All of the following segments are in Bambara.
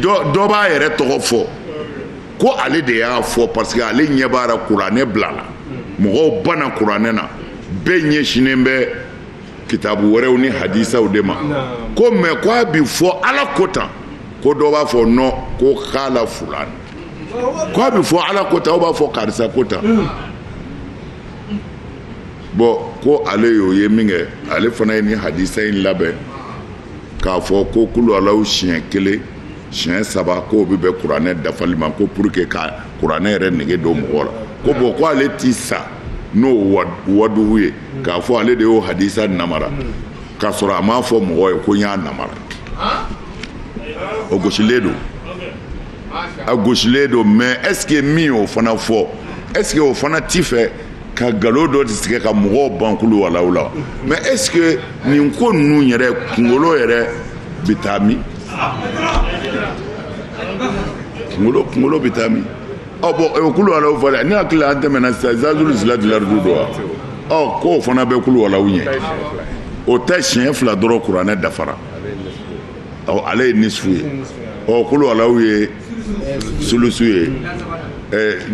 dɔ b'a yɛrɛ tɔgɔ fɔ ko ale de y'a fɔ parce que ale ɲɛ b'a la kuranɛ bilala mɔgɔw banna kuranɛ na bɛɛ ɲɛsinnen bɛ kitabu wɛrɛw ni hadisaw de ma ko mais ko a bi fɔ ala ko tan ko dɔ b'a fɔ non ko kala fulan ko a bi fɔ ala ko tan o b'a fɔ karisa ko tan bon ko ale y'o ye min kɛ ale fana ye nin hadisa in labɛn k'a fɔ ko kulu alaw siɲɛ kelen siɲɛ saba k'o bɛ bɛn kuranɛ dafali ma ko pour que ka kuranɛ yɛrɛ nege don mɔgɔ la ko bon ko ale ti sa n'o wadugu ye k'a fɔ ale de y'o hadisa namara k'a sɔrɔ a m'a fɔ mɔgɔ ye ko n y'a namara o gosilen don a gosilen don mais est ce que min y'o fana fɔ est ce que o fana ti fɛ ka nkalon dɔ de tigɛ ka mɔgɔw ban kulu walaw la mais est ce que nin ko ninnu yɛrɛ kungolo yɛrɛ bɛ taa min kungolo bɛ taa min ɔ bon o kulu walaw fɔ dɛ ne hakili la an tɛmɛna sisan zazulu zilatilaridu don wa ɔ k'o fana bɛ kulu walaw ɲɛ o tɛ siɲɛ fila dɔrɔn kuranɛ dafara ale ye nisifu ye ɔ kulu alaw ye sulusu ye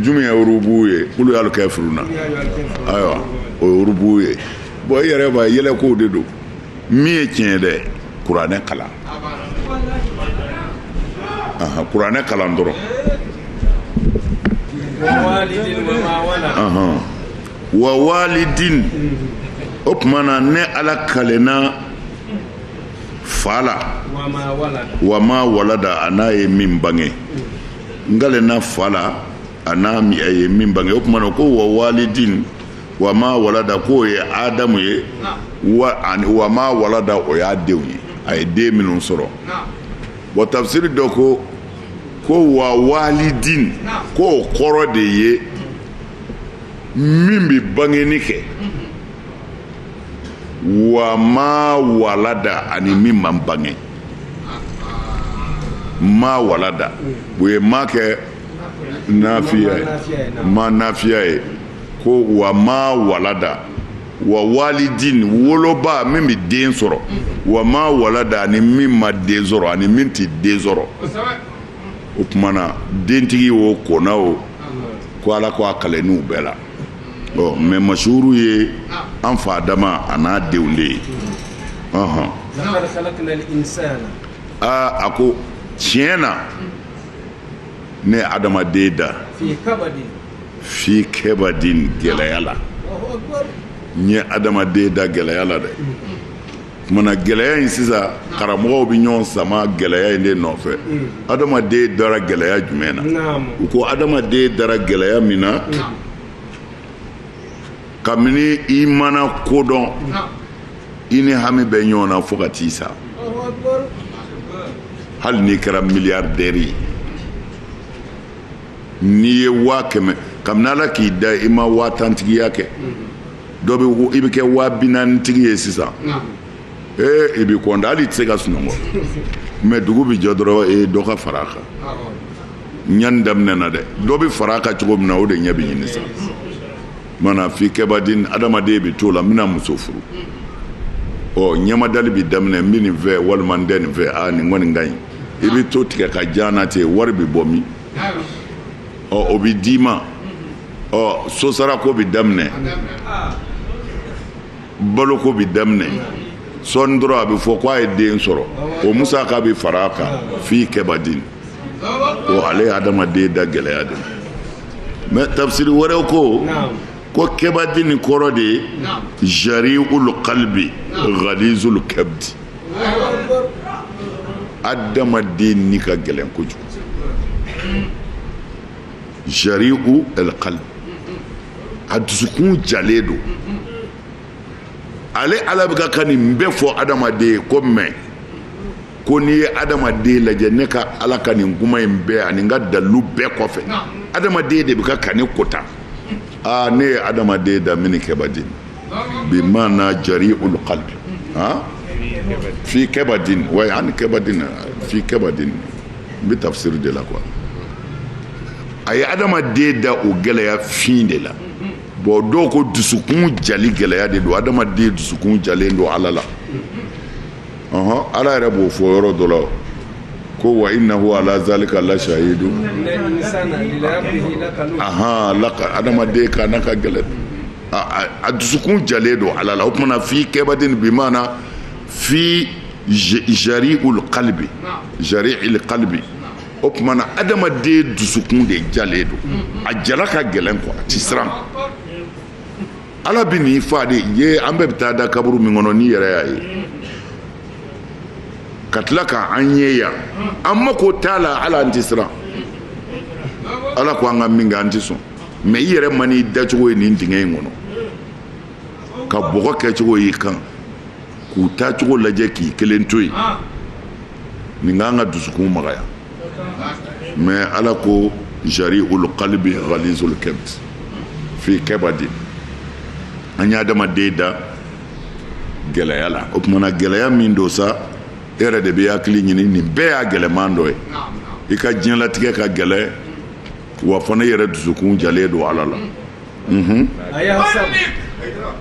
jumɛn ye urubu ye kulu yalu kafiruna ayiwa o ye urubu ye bon i yɛrɛ b'a yɛlɛkow de don min ye tiɲɛ ye dɛ kuranɛ kalan kuranɛ kalan dɔrɔn wa walidin o tuma na ne ala kalenna fa la wa ma walada an'a ye min bange n kalenna fa la an'a ye min bange o tuma na ko wa walidin wa ma walada k'o ye adamu ye ani wa ma walada o y'a denw ye a ye den minnu sɔrɔ wa tafsiri dɔ ko ko wa walidin k'o kɔrɔ de ye min bɛ bangeni kɛ. wa ma walada ani min ma bange ma walada u ye ma kɛ nafiya ye ma nafiya ye ko wa ma walada wa walidin woloba min bɛ den sɔrɔ wa ma walada ani min ma den sɔrɔ ani min tɛ den sɔrɔ o tuma na dentigi o kɔna o ko ala ko a kalenn'u bɛɛ la Bon mais mashuru ye an fa adama an'a denw de ye hɔn aa a ko tiɲɛ na ne ye adamaden da fi kabadin gɛlɛya la n ye adamaden da gɛlɛya la dɛ Tumana gɛlɛya in sisan karamɔgɔw bɛ ɲɔgɔn sama gɛlɛya in de nɔfɛ adamaden dara gɛlɛya jumɛn na u ko adamaden dara gɛlɛya min na kabini i mana ko dɔn i ni hami bɛ ɲɔgɔn na fo ka t'i sa hali n'i kɛra miliyardɛri ye n'i ye waa kɛmɛ kabini ala k'i da i ma waa tantigiya kɛ dɔ bɛ i bɛ kɛ waa bi naanitigi ye sisan ee i bɛ kɔntan hali i tɛ se ka sunɔgɔ mais dugu bɛ jɛ dɔrɔn e dɔ ka fara a kan ɲani daminɛna dɛ dɔ bɛ fara a kan cogo min na o de ɲɛ bɛ ɲini sa maana fi kɛbadin adamaden bɛ t'o la n bɛna muso furu ɔ ɲɛmadali bɛ daminɛ n bɛ nin fɛ walima n tɛ nin fɛ aa nin kɔni ka ɲi i bɛ to tigɛ ka jan na ten wari bɛ bɔ min ɔ o bɛ d'i ma ɔ sosarako bɛ daminɛ baloko bɛ daminɛ sɔɔni dɔrɔn a bɛ fɔ ko a ye den sɔrɔ o musaka bɛ fara a kan fi kɛbadin o ale ye adamaden da gɛlɛya de mais tafsiri wɛrɛw ko ko kɛbadin kɔrɔ de ye jari'ul qalbi ghalizul kabdi adamaden ni ka gɛlɛn kojugu jari'ul qalbi a dusukun jalen don ale ala bɛ ka ka nin bɛɛ fɔ adamaden ye ko mais ko n'i ye adamaden lajɛ ne ka ala ka nin kuma in bɛɛ ani n ka dalilu bɛɛ kɔfɛ adamaden de bɛ ka ka ne kota aa ne ye adamaden da min kɛbadin bi maana jari'ul qalbi ha fi kɛbadin wa ani kɛbadin fi kɛbadin n bɛ tafsiri de la quoi a ye adamaden da o gɛlɛya fin de la bon dɔw ko dusukun jali gɛlɛya de don adamaden dusukun jalen don ala la ɔhɔn ala yɛrɛ b'o fɔ yɔrɔ dɔ la ko wa innahu ala zalika la shahidu ahan laka adamaden ka n'a ka gɛlɛn a dusukun jalen don ala la o tumana fi kɛbadin bi maana fi jari'ul qalbi jari'il qalbi o tumana adamaden dusukun de jalen don a jala ka gɛlɛn ko a ti siran ala bi n'i fa de ye an bɛɛ bɛ taa da kaburu min kɔnɔ n'i yɛrɛ y'a ye ka tila ka an ye yan an mako t'a la ala an ti siran ala ko an ka min kɛ an ti sɔn mɛ i yɛrɛ man'i dacogo ye nin dingɛ in kɔnɔ ka bɔgɔ kɛcogo y'i kan k'u taacogo lajɛ k'i kelen to yen nin kan ka dusukun magaya mɛ ala ko jari'ul kalbi ghalizul kabd fi kabadi an ye adamaden da gɛlɛya la o tumana gɛlɛya min don sa e yɛrɛ de bɛ hakili ɲini nin bɛɛ y'a gɛlɛman dɔ ye i ka diɲɛlatigɛ ka gɛlɛn wa fana i yɛrɛ dusukun jalen don ala la mhm.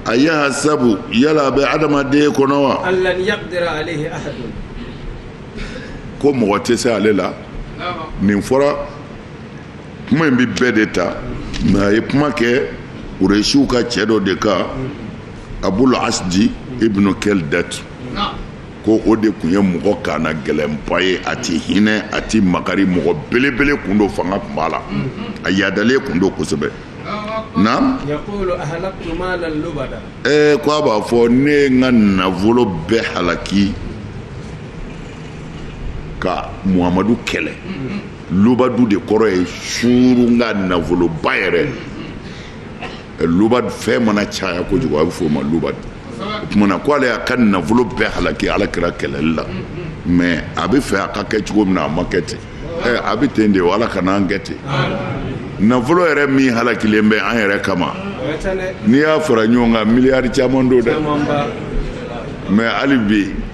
ayahsabu yala a bɛ adamaden kɔnɔ wa ko mɔgɔ tɛ se ale la nin fɔra kuma in bɛ bɛɛ de ta mɛ a ye kuma kɛ kuresiw ka cɛ dɔ de kan abul asdi ibnu kɛldat ko o de kun ye mɔgɔ kannagɛlɛnba ye a tɛ hinɛ a tɛ makari mɔgɔ belebele kun don fanga kun b'a la a yaadalen kun don kosɛbɛ naam ko a b'a fɔ ne ye n ka nafolo bɛɛ halaki ka muhamadu kɛlɛ lubadu de kɔrɔ ye surun ka nafoloba yɛrɛ lubad fɛn mana caya kojugu a bɛ f'o ma lubad o tumana ko ale y'a ka nafolo bɛɛ halaki ala kira kɛlɛli la mɛ a bɛ fɛ a ka kɛ cogo min na a ma kɛ ten ɛ a bɛ ten de ala kana an kɛ ten nafolo yɛrɛ min halakilen bɛ an yɛrɛ kama n'i y'a fara ɲɔgɔn kan miliyari caman don dɛ mɛ hali bi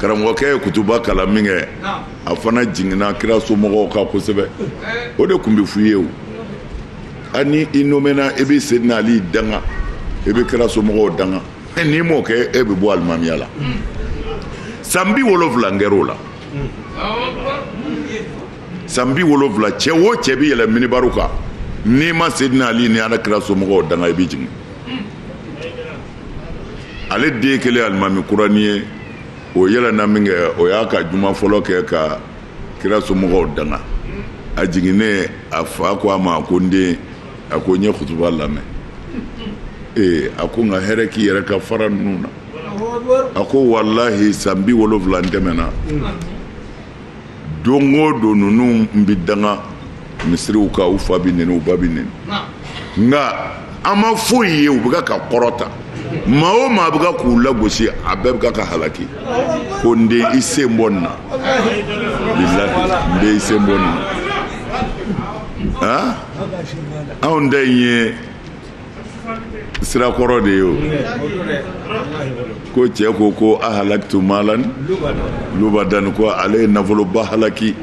karamɔgɔkɛ ye kutuba kalan min kɛ a fana jiginna kira somɔgɔw kan kosɛbɛ o de kun bɛ f'u ye o hali ni i nomena i bɛ sedina ali danga i bɛ kira somɔgɔw danga n'i m'o kɛ e bɛ bɔ alimamiya la san bi wolonwula kɛr'o la san bi wolonwula cɛ o cɛ bɛ yɛlɛ minibariw kan n'i ma sedina ali ni ala kira somɔgɔw danga i bɛ jigin ale den kelen alimami kurani ye o yɛlɛna min kɛ o y'a ka juma fɔlɔ kɛ ka kira somɔgɔw danga a jiginnen a fa ko a ma ko n den a ko n ye kutuba lamɛn ee a ko nka hɛrɛ k'i yɛrɛ ka fara ninnu na a ko walahi san bi wolonwula tɛmɛna don o don ninnu bɛ danga misiriw kan u fa bɛ neni u ba bɛ neni nka an ma foyi ye u bɛ ka kɔrɔta maa o maa bɛ ka k'u lagosi a bɛɛ bɛ ka halaki ko n den i sen bɔ nin na bilahi n den i sen bɔ nin na anw da ye sira kɔrɔ de ye o ko cɛ ko ko a halaktu maalan lubadan ko ale ye nafoloba halaki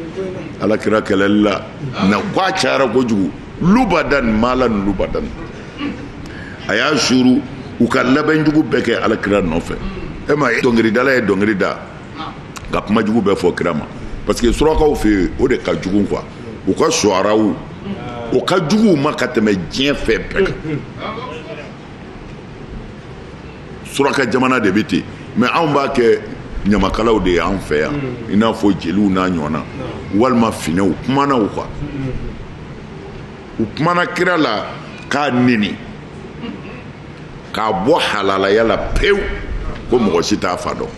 ala kira kɛlɛli la na ko a cayara kojugu lubadan maalan lubadan a y'a suuru u ka labɛnjugu bɛɛ kɛ ala kira nɔfɛ e ma dɔnkiridala ye dɔnkili da ka kuma jugu bɛɛ fɔ kira ma parce que surakaw fɛ yen o de ka jugu quoi u ka suwaraw o ka jugu u ma ka tɛmɛ diɲɛ fɛn bɛɛ kan suraka jamana de bɛ ten mais anw b'a kɛ ɲamakalaw de ye anw fɛ yan i n'a fɔ jeliw n'a ɲɔgɔnna walima finɛw kumana u kan u kumana kira la k'a neni k'a bɔ halalaya la pewu ko mɔgɔ si t'a fa dɔn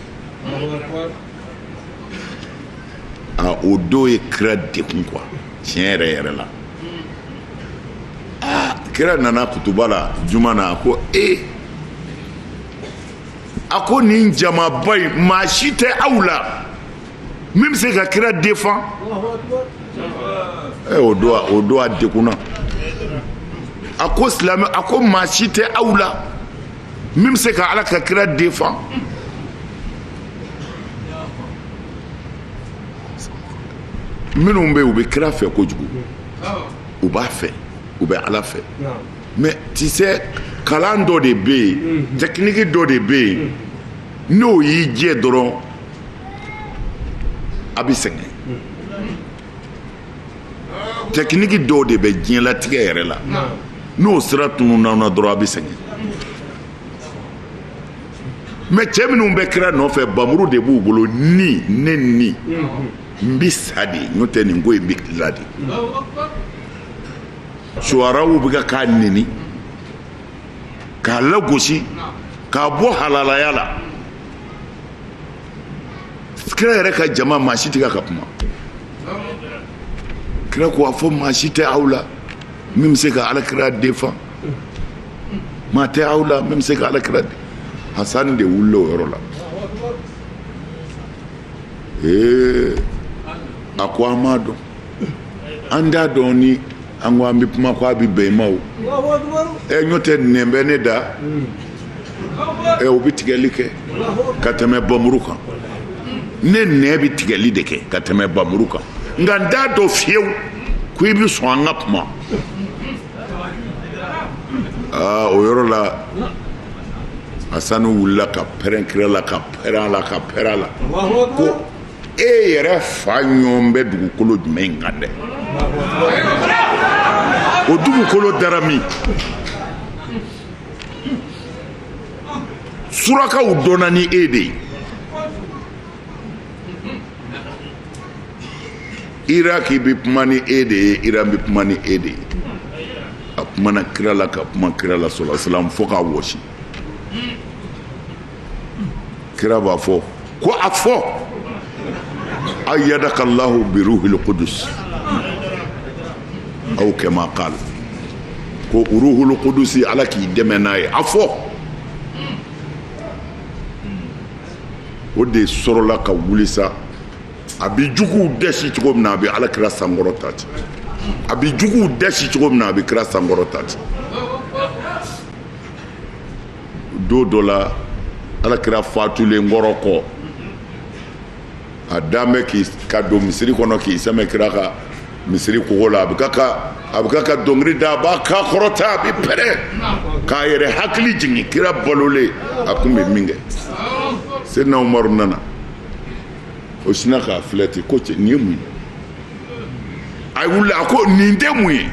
aa o don ye kira degun quoi tiɲɛ yɛrɛ yɛrɛ la aa kira nana kutuba la juma na a ko ee a ko nin jamaba in maa si tɛ aw la min bɛ se ka kira défend ɛ o don o don a degunna a ko silamɛ a ko maa si tɛ aw la min bɛ se ka ala ka kira defan. minnu bɛ yen u bɛ kira fɛ kojugu u b'a fɛ u bɛ ala fɛ mais tu sais kalan dɔ de bɛ yen mhm. tɛkiniki dɔ de bɛ yen mhm. n'o y'i jɛ dɔrɔn a bɛ sɛgɛn mhm. tɛkiniki dɔw de bɛ diɲɛlatigɛ yɛrɛ la n'o sira tununna dɔrɔn a bɛ sɛgɛn mais cɛ minnu bɛ kira nɔfɛ bamuru de b'u bolo ni ne ni n bɛ sa de n'o tɛ nin ko in bɛ la de suwaraw bɛ ka k'a neni k'a lagosi k'a bɔ halalaya la kira yɛrɛ ka jama maa si tɛ ka kuma kira ko a fɔ maa si tɛ aw la min bɛ se ka alakira défend maa tɛ aw la min bɛ se ka alakira de hasani de wulila o yɔrɔ la ee a ko an m'a dɔn an t'a dɔn ni an ko an bɛ kuma ko a bɛ bɛn i ma o n'o tɛ nɛn bɛ ne da ɛ o bɛ tigɛli kɛ ka tɛmɛ bamuru kan ne nɛn bɛ tigɛli de kɛ ka tɛmɛ bamuru kan nka n t'a dɔn fiyewu ko i bɛ sɔn an ka kuma aa o yɔrɔ la Hasanu wulila ka pɛrɛn kira la ka pɛrɛn a la ka pɛrɛn a la ko e yɛrɛ fa ɲɔgɔn bɛ dugukolo jumɛn in kan dɛ o dugukolo dara min surakaw dɔnna ni e de ye iraki bɛ kuma ni e de ye iran bɛ kuma ni e de ye a kumana kira la ka kuma kira la sallallahu alaihi wasallam fo k'a wɔsi kira b'a fɔ ko a fɔ ayyadaka llahu bi ruhil qudus aw kama qal ko uruhul qudusi ala k'i dɛmɛ n'a ye a fɔ o de sɔrɔla ka wuli sa a bɛ juguw dɛsi cogo min na a bɛ ala kira sankɔrɔta ten a bɛ juguw dɛsi cogo min na a bɛ kira sankɔrɔta ten don dɔ la ala kira fatulen kɔrɔ kɔ a dan bɛ k'i ka don misiri kɔnɔ k'i sɛmɛ kira ka misiri kogo la a bɛ k'a ka a bɛ k'a ka dɔnkili da a b'a kan kɔrɔta a bɛ pɛrɛn k'a yɛrɛ hakili jigin kira balolen a kun bɛ min kɛ Seydina Umaru nana o sinna k'a filɛ ten ko cɛ nin ye mun ye a wulila a ko nin tɛ mun ye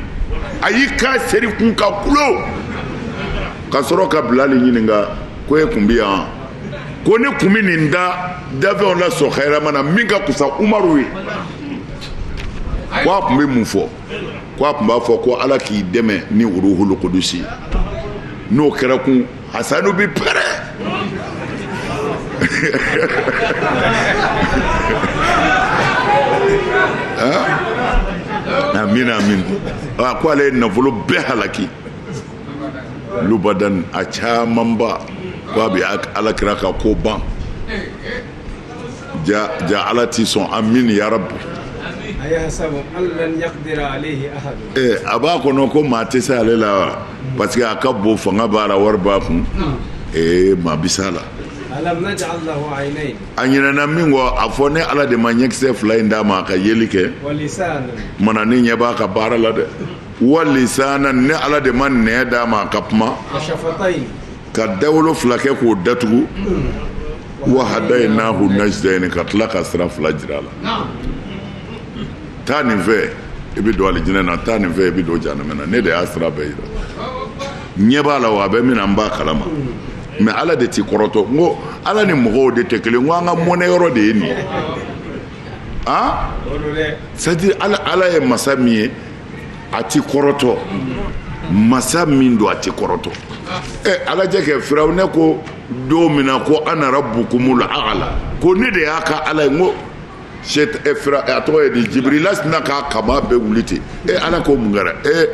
a y'i kan seri kun ka kulo ka sɔrɔ ka bilali ɲininka ko e kun bɛ yan ko ne kun bɛ nin da dafɛnw la so hɛrɛma na min ka kusa umaru ye ko a kun bɛ mun fɔ ko a kun b'a fɔ ko ala k'i dɛmɛ ni uruhul qudusi n'o kɛra kun Hasanu bɛ pɛrɛ amin amin a ko ale ye nafolo bɛɛ halaki lubadan a camanba ko a bɛ ala kira ka ko ban ja ja ala ti sɔn amin ya rabbi eh, a b'a kɔnɔ ko maa tɛ se ale la wa parce que a ka bon fanga b'a la wari b'a kun ee eh, maa bi s'a la alam naj'al lahu aynayn a ɲinɛna min kɔ a fɔ ne ala de ma ɲɛkisɛ fila in d'a ma a ka yeli kɛ mana ne ɲɛ b'a ka baara la dɛ walisanan ne ala de ma nɛn d'a ma a ka kuma ka dawolo fila kɛ k'o datugu wahadaynahu najdaini ka tila ka sira fila jira a la taa nin fɛ i bɛ don alijinɛ na taa nin fɛ i bɛ don jahanama na ne de y'a sira bɛɛ jira ɲɛ b'a la wa a bɛ min na n b'a kalama mais ala de t'i kɔrɔtɔ n ko ala ni mɔgɔw de tɛ kelen n ko an ka mɔnɛ yɔrɔ de ye nin ye an c'est à dire ala ye masa min ye a tɛ kɔrɔtɔ masa min don a tɛ kɔrɔtɔ ɛ a lajɛ kɛ firawuna ko don min na ko ana rabukumul aala ko ne de y'a ka ala ye n ko a tɔgɔ ye di jibirila sina k'a kama bɛɛ wuli ten e ala ko mun kɛra e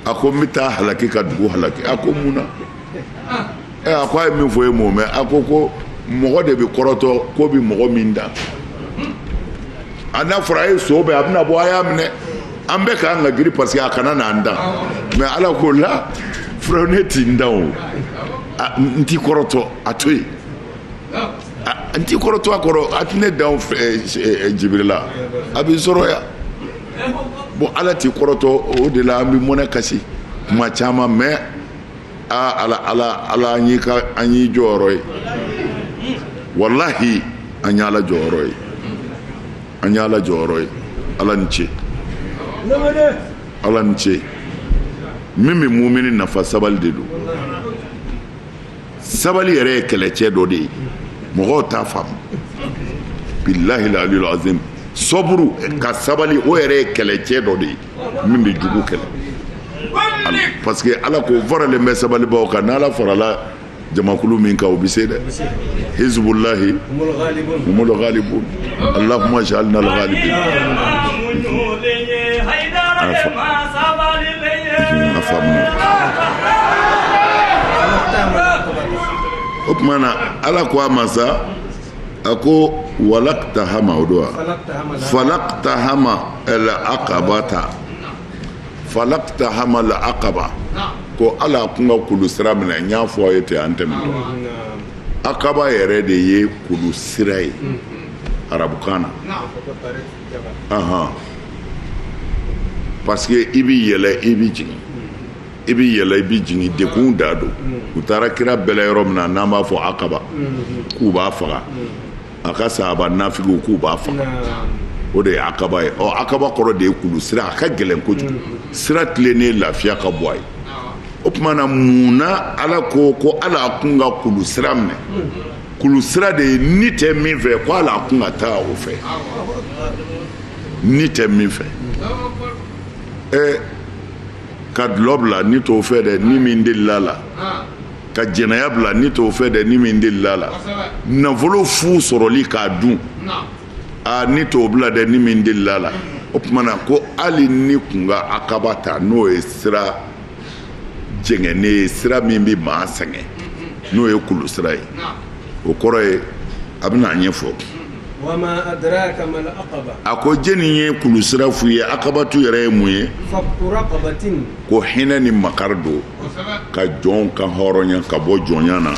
a ko n bɛ taa halaki ka dugu halaki a ko mun na ɛ a ko a ye min fɔ e m'o mɛn a ko ko mɔgɔ de bɛ kɔrɔtɔ ko bɛ mɔgɔ min dan a n'a fɔra a ye sɔbɛ a bɛna bɔ a y'a minɛ an bɛɛ k'an ka giri parce que a kana n'an dan mais ala ko la firawuna tɛ n dan o n tɛ kɔrɔtɔ a to yen n tɛ kɔrɔtɔ a kɔrɔ a tɛ ne dan jibirila a b'i sɔrɔ yan bon ala tɛ kɔrɔtɔ o de la an bɛ mɔnɛ kasi tuma caman mais aa ala ala ala an y'i ka an y'i jɔyɔrɔ ye walahi an y'ala jɔyɔrɔ ye an y'ala jɔyɔrɔ ye ala ni ce ala ni ce min bɛ mumini nafa sabali de don sabali yɛrɛ ye kɛlɛcɛ dɔ de ye mɔgɔw t'a faamu bilahil aliyul azim sɔburu ka sabali o yɛrɛ ye kɛlɛcɛ dɔ de ye min bɛ jugu kɛlɛ parce que ala ko n faralen bɛ sabalibaaw kan n'ala farala jamakulu min kan o bɛ se dɛ hizbulahi humul galibun alahuma jalinal galibin an fa an fa o tuma na ala ko a ma sa a ko walakta hama o don wa falakta hama la akaba ta falakta hama la akaba ko ala kun ka kulu sira minɛ n y'a fɔ aw ye ten an tɛmɛtɔ akaba yɛrɛ de ye kulu sira ye arabukan na ahan parce que i bɛ yɛlɛ i bɛ jigin i bɛ yɛlɛ i bɛ jigin dekun da don u taara kira bɛlɛ yɔrɔ min na n'an b'a fɔ akaba k'u b'a faga a ka sahaba nafigiw k'u b'a faga o de ye akaba ye ɔ akaba kɔrɔ de ye kulu sira a ka gɛlɛn kojugu sira tilennen lafiya ka bɔ a ye o tuma na mun na ala ko ko ala a kun ka kulu sira minɛ kulu sira de ye ni tɛ min fɛ ko ala a kun ka taa o fɛ ni tɛ min fɛ ɛɛ ka dulɔ bila ni t'o fɛ dɛ ni min delila la ka jɛnɛya bila ni t'o fɛ dɛ ni min delila la nafolo fu sɔrɔli k'a dun aa ni t'o bila dɛ ni min delila la o tuma na ko hali ni kun ka akaba ta n'o ye sira jɛngɛnnen ye sira min bɛ maa sɛgɛn n'o ye kulu sira ye o kɔrɔ ye a bɛna a ɲɛfɔ a ko jɛni ye kulu sira f'u ye akabatu yɛrɛ ye mun ye ko hinɛ ni makari don ka jɔn kanhɔrɔnya k'a bɔ jɔnya na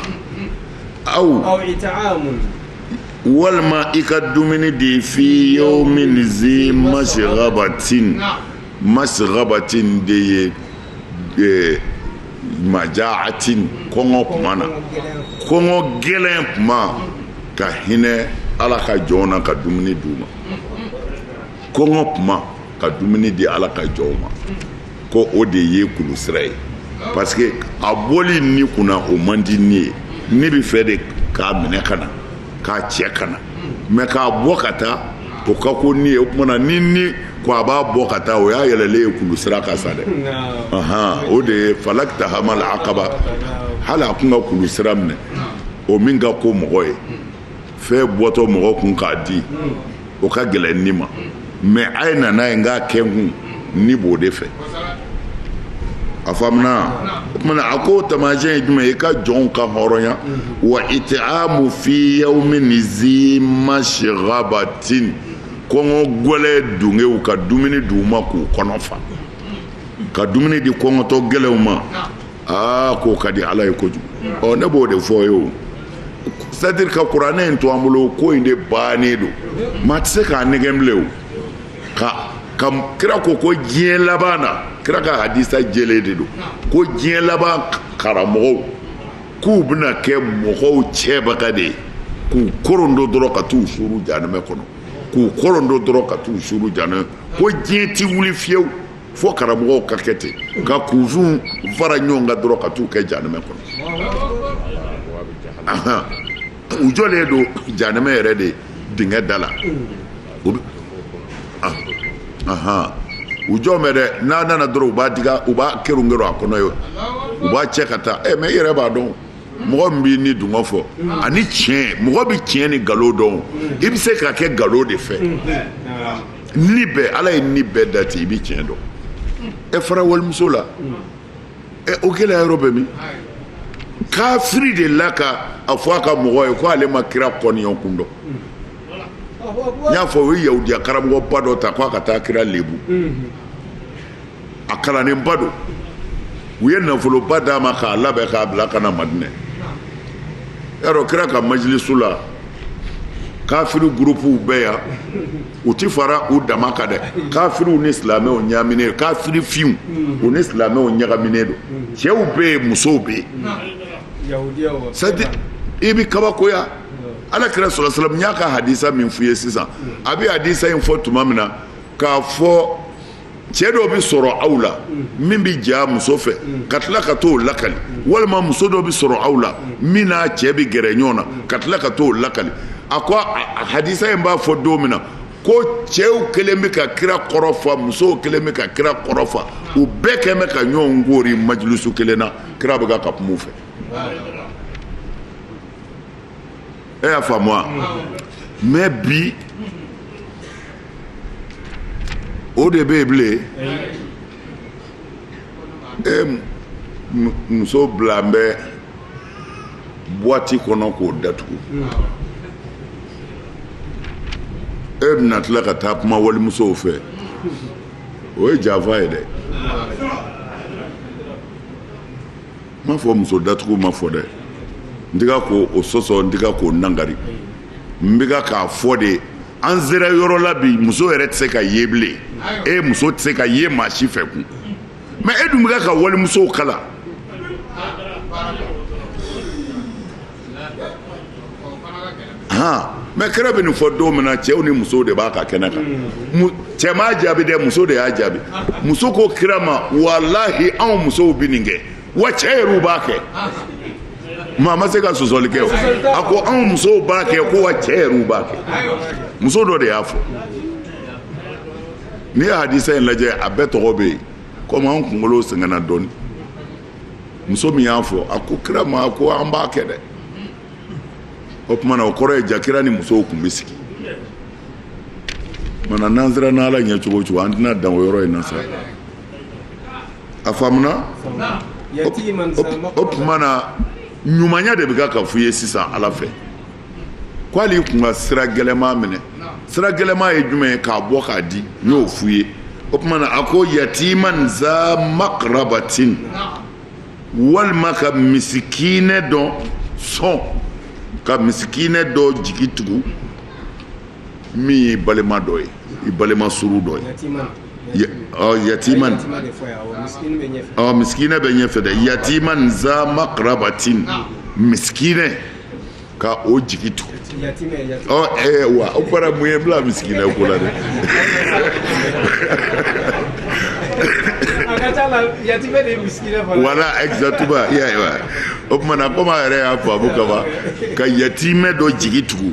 aw walima i ka dumuni di fi yawmin zi masgabatin masgabatin de ye majaatin kɔngɔ kuma na kɔngɔ gɛlɛn kuma ka hinɛ ala ka jɔnw na ka dumuni d'u ma kɔngɔ kuma ka dumuni di ala ka jɔnw ma ko o de ye kulu sira ye parce que a bɔli ni kunna o man di ni ye ni bɛ fɛ de k'a minɛ ka na k'a cɛ ka na mais k'a bɔ ka taa o ka ko ni ye o tuma na ni ni ko a b'a bɔ ka taa o y'a yɛlɛlen ye kulu sira kan sa dɛ o de ye fala kitahamal akaba hali a kun ka kulu sira minɛ o min ka ko mɔgɔ ye fɛn bɔtɔ mɔgɔ kun k'a di o ka gɛlɛn ni ma mais a ye na n'a ye n k'a kɛ n kun ni b'o de fɛ a faamuna o tuma na a ko taamasiyɛn ye jumɛn i ka jɔnw kanhɔrɔnya wa itamu fi yawmin zi masgabatin kɔngɔ gɛlɛn dungew ka dumuni di u ma k'u kɔnɔ fa ka dumuni di kɔngɔtɔ gɛlɛnw ma aa k'o ka di ala ye kojugu ɔ ne b'o de fɔ ye o c'est-à-dire ka kuranɛ in to an bolo ko in de bannen don maa tɛ se k'a nɛgɛn bilen o ka ka kira ko ko diɲɛ laban na kira ka hadisa jɛlen de don ko diɲɛ laban karamɔgɔw k'u bɛna kɛ mɔgɔw cɛbaga de ye k'u korondo dɔrɔn ka t'u suuru janɛmɛ kɔnɔ k'u korondo dɔrɔn ka t'u suuru janɛmɛ ko diɲɛ ti wuli fiyewu fo karamɔgɔw ka kɛ ten u ka kunfinw fara ɲɔgɔn kan dɔrɔn ka t'u kɛ janɛmɛ kɔnɔ u jɔlen don janɛmɛ yɛrɛ de dingɛ da la u jɔn bɛ dɛ n'a nana dɔrɔn u b'a diga u b'a kerun kerun a kɔnɔ yen u b'a cɛ ka taa ɛ mais i yɛrɛ b'a dɔn mɔgɔ min b'i ni dungɔ fɔ ani tiɲɛ mɔgɔ bɛ tiɲɛ ni nkalon dɔn i bɛ se ka kɛ nkalon de fɛ ni bɛɛ ala ye ni bɛɛ dan ten i bɛ tiɲɛ dɔn ɛ fara walimuso la ɛ o gɛlɛya yɔrɔ bɛ min kafiri de la ka a fɔ a ka mɔgɔ ye ko ale ma kira kɔniya kun dɔn n y'a fɔ o ye yahudiya karamɔgɔba dɔ ta k'a ka taa kira lebu a kalannenba don u ye nafoloba d'a ma k'a labɛn k'a bila ka na madinɛ yɛrɛ kira ka majilisu la kafiri gurupuw bɛ yan u ti fara u dama kan dɛ kafiriw ni silamɛw ɲaaminen don kafiri finw u ni silamɛw ɲagaminen don cɛw bɛ yen musow bɛ yen c'est i bɛ kabakoya ala kira sɔrɔ salam n y'a ka hadisa min f'i ye sisan a bɛ hadisa in fɔ tuma min na k'a fɔ cɛ dɔ bɛ sɔrɔ aw la min bɛ j'a muso fɛ ka tila ka t'o lakali walima muso dɔ bɛ sɔrɔ aw la min n'a cɛ bɛ gɛrɛ ɲɔgɔn na ka tila ka t'o lakali a ko hadisa in b'a fɔ don min na ko cɛw kɛlen bɛ ka kira kɔrɔ fa musow kɛlen bɛ ka kira kɔrɔ fa u bɛɛ kɛlen bɛ ka ɲɔgɔn koori majilisu kelen na kira bɛ ka ka kuma u fɛ e y'a faamu wa mɛ bi o de bɛ yen bilen e muso bilalen bɛ buwati kɔnɔ k'o datugu e bɛna tila ka taa kuma walimusow fɛ o ye janfa ye dɛ n m'a fɔ muso datugu ma fɔ dɛ n tɛ ka k'o sɔsɔ n tɛ ka k'o nangari n bɛ ka k'a fɔ de an sera yɔrɔ la bi muso yɛrɛ tɛ se ka ye bilen e muso tɛ se ka ye maa si fɛ kun mɛ e dun bɛ ka ka walimusow kalan mɛ kira bɛ nin fɔ don min na cɛw ni musow de b'a ka kɛnɛ kan cɛ m'a jaabi dɛ muso de y'a jaabi muso ko kira ma walahi anw musow bɛ nin kɛ wa cɛ yɛrɛw b'a kɛ maa ma se ka sɔsɔli kɛ a ko anw musow b'a kɛ ko wa cɛ yɛrɛw b'a kɛ muso dɔ de y'a fɔ n'i ye hadisa in lajɛ a bɛɛ tɔgɔ bɛ yen komi anw kunkolo sɛgɛnna dɔɔnin muso min y'a fɔ a ko kira ma ko an b'a kɛ dɛ o tuma na o kɔrɔ ye jaa kira ni musow tun bɛ sigi mana n'an siranna ala ɲɛ cogo o cogo an tɛna dan o yɔrɔ in na sa a faamuna o tuma na ɲumanya de bɛ ka ka f'u ye sisan ala fɛ ko hali i tun ka sira gɛlɛman minɛ sira gɛlɛman ye jumɛn ye k'a bɔ k'a di n y'o f'u ye o tuma na a ko yatiman za makarabatin walima ka misikinɛ dɔ sɔn ka misikinɛ dɔ jigi tugu min ye i balima dɔ ye i balima surun dɔ ye yatiman ɔ misikinɛ bɛ ɲɛfɛ dɛ yatiman za makarabatin misikinɛ ka o jigi tugu ɔ ɛɛ wa o fana mun y'i bila misikinɛ ko la dɛ. voilà exactement i y'a ye wa o tuma na komi a yɛrɛ y'a faamu kaban ka yatimɛ dɔ jigi tugu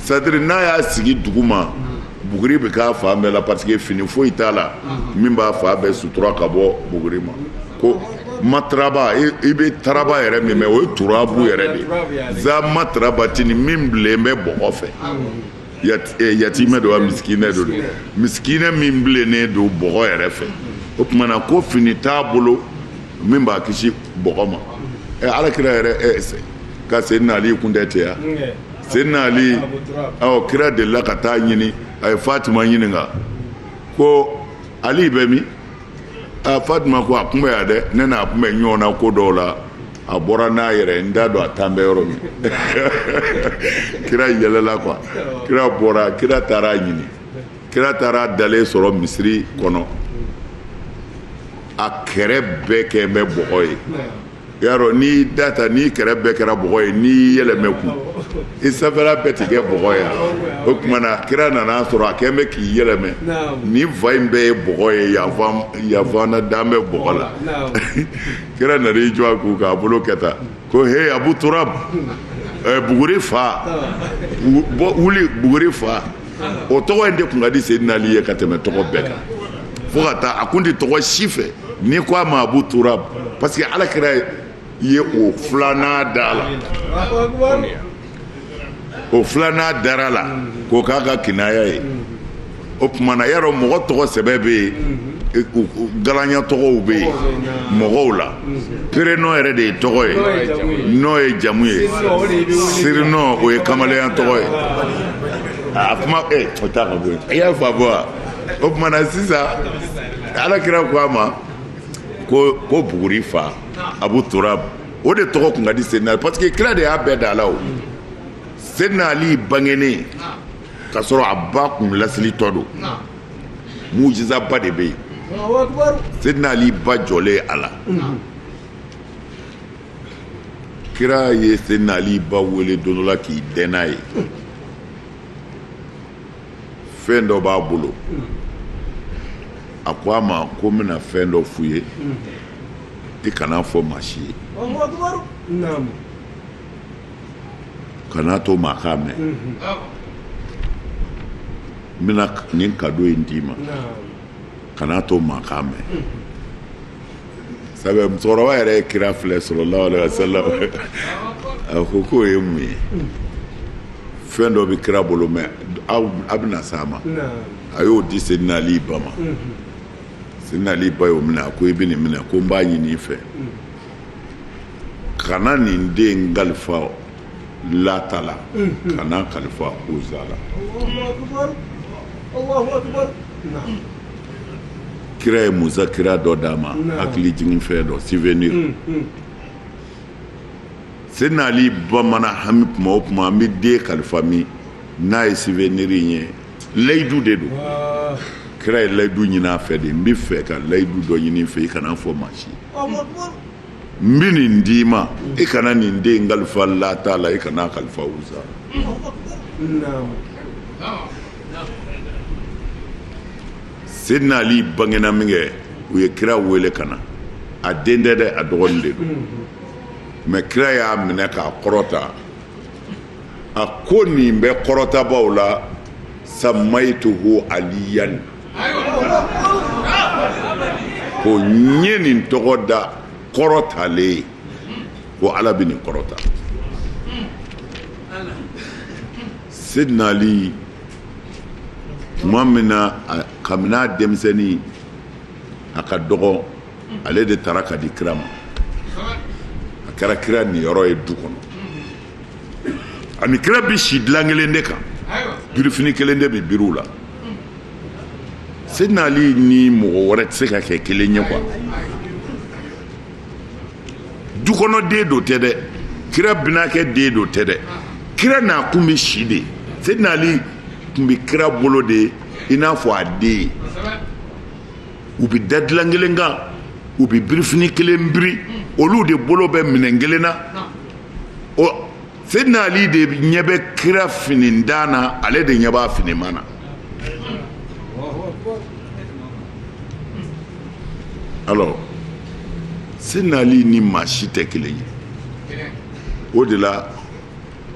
c'est-à-dire n'a y'a sigi dugu ma buguri bɛ k'a fan bɛɛ la parce que fini foyi t'a la min b'a fan bɛɛ sutura ka bɔ buguri ma ko mataraba i bɛ taraba yɛrɛ min mɛ o ye turabu yɛrɛ de ye za matarabatini min bilen bɛ bɔgɔ fɛ eh, yatimɛ don wa misikinɛ don misikinɛ min bilennen don bɔgɔ yɛrɛ fɛ o tuma na ko fini t'a bolo min b'a kisi bɔgɔ ma eh, alakira yɛrɛ eh, ka seydina ali kun tɛ tɛ yan seydina ali ɔ kira delila ka taa a ɲini a ye fatima ɲininka ko ali bɛ min a fatima ko a kun bɛ yan dɛ ne n'a kun bɛ ɲɔgɔn na ko dɔw la a bɔra n'a yɛrɛ n t'a dɔn a taan bɛ yɔrɔ min kira yɛlɛla quoi kira bɔra kira taara a ɲini kira taara a dalen sɔrɔ misiri kɔnɔ a kɛrɛ bɛɛ kɛ bɛ bɔgɔ ye i y'a dɔn n'i da ta n'i kɛrɛ bɛɛ kɛra bɔgɔ ye n'i yɛlɛmɛ kun i sanfɛla bɛɛ ti kɛ bɔgɔ ye o tuma na kira nana a sɔrɔ a kɛn bɛ k'i yɛlɛmɛ ni fan in bɛɛ ye bɔgɔ ye yan fana dan bɛ bɔgɔ la kira nana i jɔ a kun k'a bolo kɛ tan ko he abu turab buguri fa wuli buguri fa o tɔgɔ in de kun ka di seydina ali ye ka tɛmɛ tɔgɔ bɛɛ kan fo ka taa a kun tɛ tɔgɔ si fɛ n'i ko a ma abu turab parce que ala kira ye o filanan da a la o filanan dara a la k'o k'a ka kinaya ye o tumana y'a dɔn mɔgɔ tɔgɔ sɛbɛ bɛ yen galanya tɔgɔw bɛ yen mɔgɔw la prénom yɛrɛ de ye tɔgɔ ye nom ye jamu ye surnom o ye kamalenya tɔgɔ ye a kuma eh, o t'a ka bɔ yen i y'a faamu wa o tuma na sisan ala kira ko a ma ko ko buguri fa abu turab o de tɔgɔ kun ka di seydina ali parce que kira de y'a bɛɛ da a la o seydina ali bangenen ka sɔrɔ a ba kun lasilitɔ don mujizaba de bɛ yen seydina ali ba jɔlen ala kira ye seydina ali ba wele don dɔ la k'i dɛn n'a ye fɛn dɔ b'a bolo a ko a ma ko n bɛna fɛn dɔ f'i ye i kan'a fɔ maa si ye kana to maa k'a mɛn n bɛna nin kado in d'i ma kana to maa k'a mɛn sabu musokɔrɔba yɛrɛ ye kira filɛ sallallahu alaihi wasallam a ko k'o ye mun ye fɛn dɔ bɛ kira bolo mɛ a bɛna s'a ma a y'o di seydina ali ba ma seydina ali ba y'o minɛ a ko i bɛ nin minɛ ko n b'a ɲini i fɛ kana nin den kalifa lata la kana kalifa uza la kira ye muzakira dɔ d'a ma hakili jigin fɛn dɔ souvenir seydina ali ba mana hami kuma o kuma an bɛ den kalifa min n'a ye souvenir in ye layidu de don kira ye layidu ɲini a fɛ de n bɛ fɛ ka layidu dɔ ɲini i fɛ i kana fɔ maa si n bɛ nin d'i ma i kana nin den kalifa lata la i kana kalifa uza la seydina ali bangena min kɛ u ye kira wele ka na a den tɛ dɛ a dɔgɔnin de don mɛ kira y'a minɛ k'a kɔrɔta a ko nin bɛ kɔrɔtabaaw la samayituhu aliyan ko n ye nin tɔgɔ da kɔrɔtalen ko ala bɛ nin kɔrɔta seydina ali tuma min na kabini a denmisɛnnin a ka dɔgɔ ale de taara ka di kira ma a kɛra kira niyɔrɔ ye du kɔnɔ a ni kira bɛ si dilan kelen de kan birifini kelen de bɛ biri u la seydina ali ni mɔgɔ wɛrɛ tɛ se ka kɛ kelen ye quoi du kɔnɔ den dɔrɔn tɛ dɛ kira binakɛ den dɔrɔn tɛ dɛ kira n'a kun bɛ si de seydina ali kun bɛ kira bolo de i n'a fɔ a den u bɛ da dilan kelen kan u bɛ birifini kelen biri olu de bolo bɛ minɛn kelen na ɔ seydina ali de ɲɛ bɛ kira finintan na ale de ɲɛ b'a finima na alors seydina ali ni maa si tɛ kelen ye o de la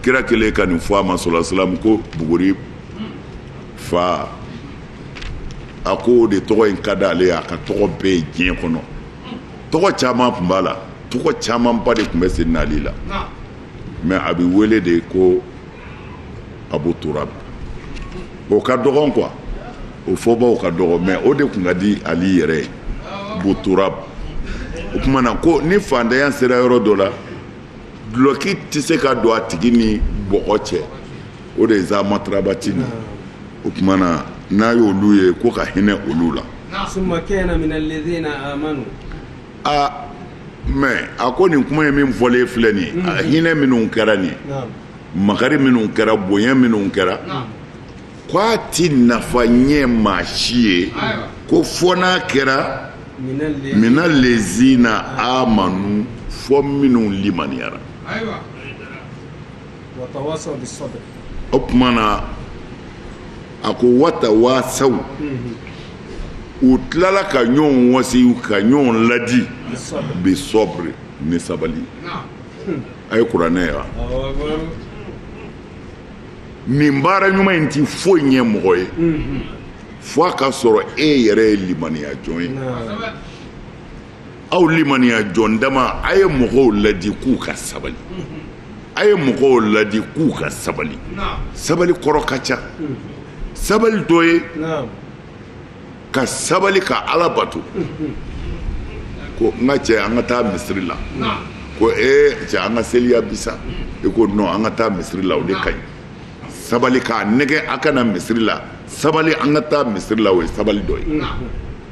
kira kelen ka nin fɔ a ma sallallahu alaihi wasallam ko buguri fa a ko o de tɔgɔ in ka di ale ye a ka tɔgɔ bɛɛ ye diɲɛ kɔnɔ tɔgɔ caman tun b'a la tɔgɔ camanba de tun bɛ Seydina Ali la mais a bɛ wele de ko Abu Turab o ka dɔgɔn quoi o fɔbaw ka dɔgɔ mais o de tun ka di Ali yɛrɛ ye Abu Turab o tuma na ko ni fantanya sera yɔrɔ dɔ la dulɔki tɛ se ka don a tigi ni bɔgɔ cɛ o de ye zaa matarabati nin ye o tuma na n'a ye olu ye ko ka hinɛ olu la aa mais a ko nin kuma ye min fɔlen filɛ nin mm. a hinɛ minnu kɛra nin makari minnu kɛra bonya minnu kɛra ko a ti nafa ɲɛ maa si ye ko fo n'a kɛra mina lezina amanu fo minnu limaniyara o tuma na a ko watawasaw u tilala ka ɲɔgɔn wasi ka ɲɔgɔn ladi bi sɔbiri ni sabali a ye kuranɛ ye wa nin baara ɲuman in ti foyi ɲɛ mɔgɔ ye fo a ka sɔrɔ e yɛrɛ ye limaniya jɔn ye aw limaniya jɔn dama a ye mɔgɔw ladi k'u ka sabali a ye mɔgɔw ladi k'u ka sabali sabali kɔrɔ ka ca sabali dɔ ye ka sabali ka ala bato ko n ka cɛ an ka taa misiri la ko ee cɛ an ka seli yan bi sa i ko non an ka taa misiri la o de ka ɲi sabali k'a nɛgɛn a ka na misiri la sabali an ka taa misiri la o ye sabali dɔ ye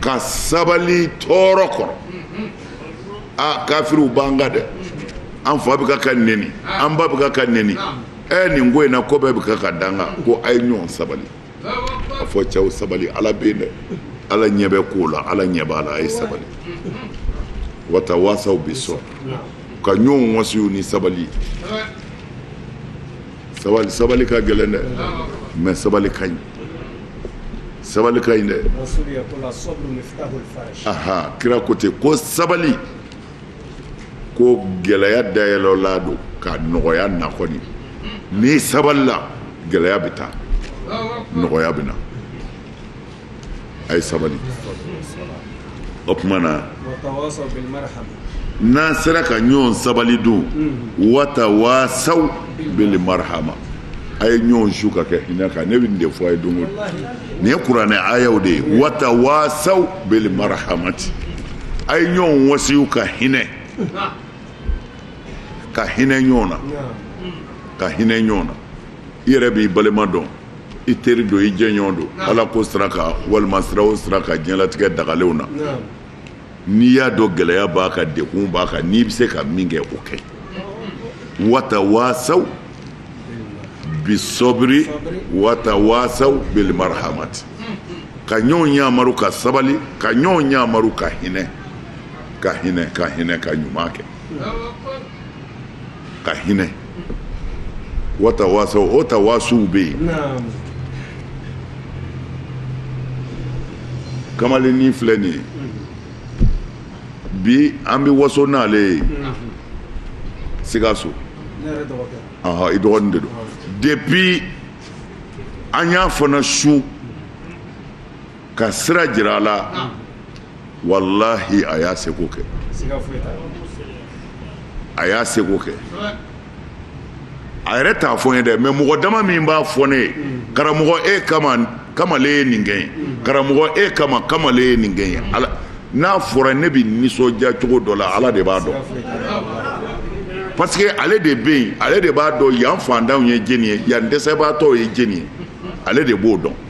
ka sabali tɔɔrɔ kɔrɔ aa kafiriw b'an kan dɛ an fa bɛ ka ka neni an ba bɛ ka ka neni ɛ nin ko in na ko bɛɛ bɛ ka ka danga ko a ye ɲɔgɔn sabali a fɔ cɛw sabali ala bɛ yen dɛ ala ɲɛ bɛ ko la ala ɲɛ b'a la a ye sabali watawasaw bi sɔbiri ka ɲɔgɔn wasiw ni sabali sabali sabali ka gɛlɛn dɛ mais sabali ka ɲi sabali ka ɲi dɛ aha kira ko ten ko sabali ko gɛlɛya dayɛlɛlan don ka nɔgɔya na kɔni n'i sabalila gɛlɛya bɛ taa nɔgɔya bɛ na a ye sabali o tuma na n'an sera ka ɲɔgɔn sabali dun watawasaw bili marihama a ye ɲɔgɔn wasiw ka kɛ hinɛ kan ne bɛ nin de fɔ a ye don o don nin ye kuranɛ ayaw de ye watawasaw bili marahamati a ye ɲɔgɔn wasiw ka hinɛ ka hinɛ ɲɔgɔn na ka hinɛ ɲɔgɔn na i yɛrɛ b'i balima dɔn i teri don i jɛɲɔgɔn don ala ko sira kan walima sira o sira kan diɲɛlatigɛ dagalenw na n'i y'a dɔn gɛlɛya b'a kan dekun b'a kan n'i bɛ se ka min kɛ o kɛ watawaasaw bisɔbiri watawaasaw bilimarahamati ka ɲɔgɔn ɲamaru ka sabali ka ɲɔgɔn ɲamaru ka hinɛ ka hinɛ ka hinɛ ka ɲuman kɛ ka hinɛ watawaasaw o tawaasuw bɛ yen naam kamalennin filɛ nin ye bi an bɛ waso n'ale ye sikaso ne yɛrɛ dɔgɔkɛ ɔhɔ i dɔgɔnin de don depuis an y'a fana su ka sira jira a la walahi a y'a seko kɛ a y'a seko kɛ a yɛrɛ t'a fɔ n ye dɛ mais mɔgɔ dama min b'a fɔ ne ye karamɔgɔ e kama kamalen ye nin kɛ n ye karamɔgɔ e kama kamalen ye nin kɛ n ye ala n'a fɔra ne bɛ nisɔndiya cogo dɔ la ala de b'a dɔn parce que ale de bɛ yen ale de b'a dɔn yan fantanw ye jeni ye yan dɛsɛbaatɔw ye jeni ye ale de b'o dɔn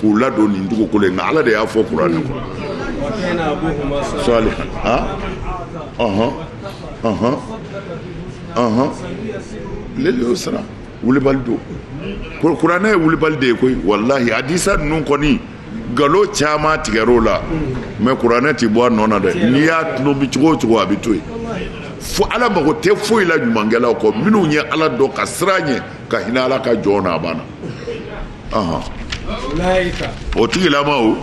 k'u ladon nin dugukolo in na ala de y'a fɔ kuranɛ kɔnɔ salihan a ɔhɔn ɔhɔn ɔhɔn lele y'o sara wulibali don kuranɛ ye wulibali de ye koyi walahi hadisa ninnu kɔni galo caman tigɛr'o la mais kuranɛ ti bɔ a nɔ na dɛ n'i y'a tɔnɔmi cogo o cogo a bɛ to yen fo ala mago tɛ foyi la ɲumankɛlaw kɔ minnu ye ala dɔn ka siran a ɲɛ ka hinɛ ala ka jɔn na a banna o tigilamaw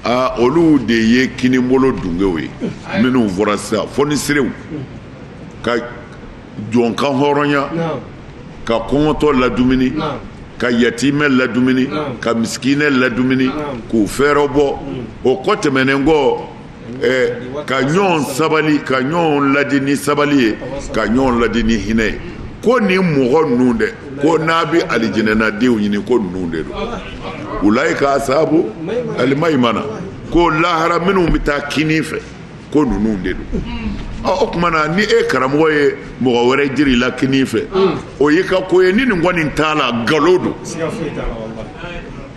aa olu de ye kinibolo dunkew ye minnu fɔra sisan fɔnisirew ka jɔn kanhɔrɔnya ka kɔngɔtɔ ladumuni ka yatimɛ ladumuni ka misikinɛ ladumuni k'u fɛɛrɛ bɔ o kɔ tɛmɛnen kɔ ka ɲɔgɔn sabali ka ɲɔgɔn ladi ni sabali ye ka ɲɔgɔn ladi ni hinɛ ye ko nin mɔgɔ ninnu dɛ ko n'a bɛ alijinɛnadenw ɲini ko ninnu de don ulayika ashabu alimayimana ko lahara minnu bɛ taa kini fɛ ko ninnu de don o tuma na ni e karamɔgɔ ye mɔgɔ wɛrɛ jir'i la kini fɛ o y'i ka ko ye ni nin kɔni t'a la nkalon don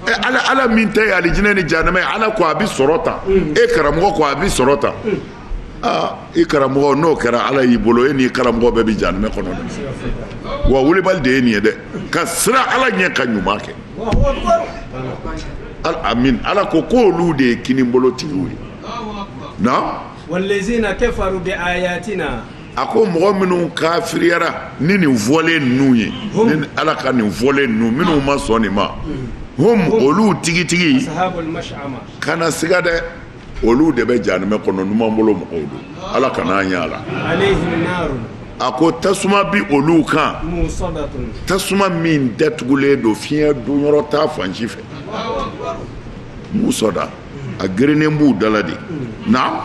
ala ala min ta alijinɛ ni jahanama ye ala ko a bɛ sɔrɔ tan e karamɔgɔ ko a bɛ sɔrɔ tan i karamɔgɔ n'o kɛra ala y'i bolo e n'i karamɔgɔ bɛɛ bɛ jahanama kɔnɔ dɛ wa wulibali de ye nin ye dɛ ka siran ala ɲɛ ka ɲuman kɛ amin ala ko ko olu de ye kinibolotigiw ye na a ko mɔgɔ minnu kafiriyara ni nin fɔlen ninnu ye ni ala ka nin fɔlen ninnu minnu ma sɔn nin ma hum olu tigitigi kana siga dɛ olu de bɛ janimɛ kɔnɔ numan bolo mɔgɔw don ala kana an y'a la a ko tasuma bi olu kan tasuma min datugulen don fiɲɛ donyɔrɔ t'a fan si fɛ musɔda a gerennen b'u da la de na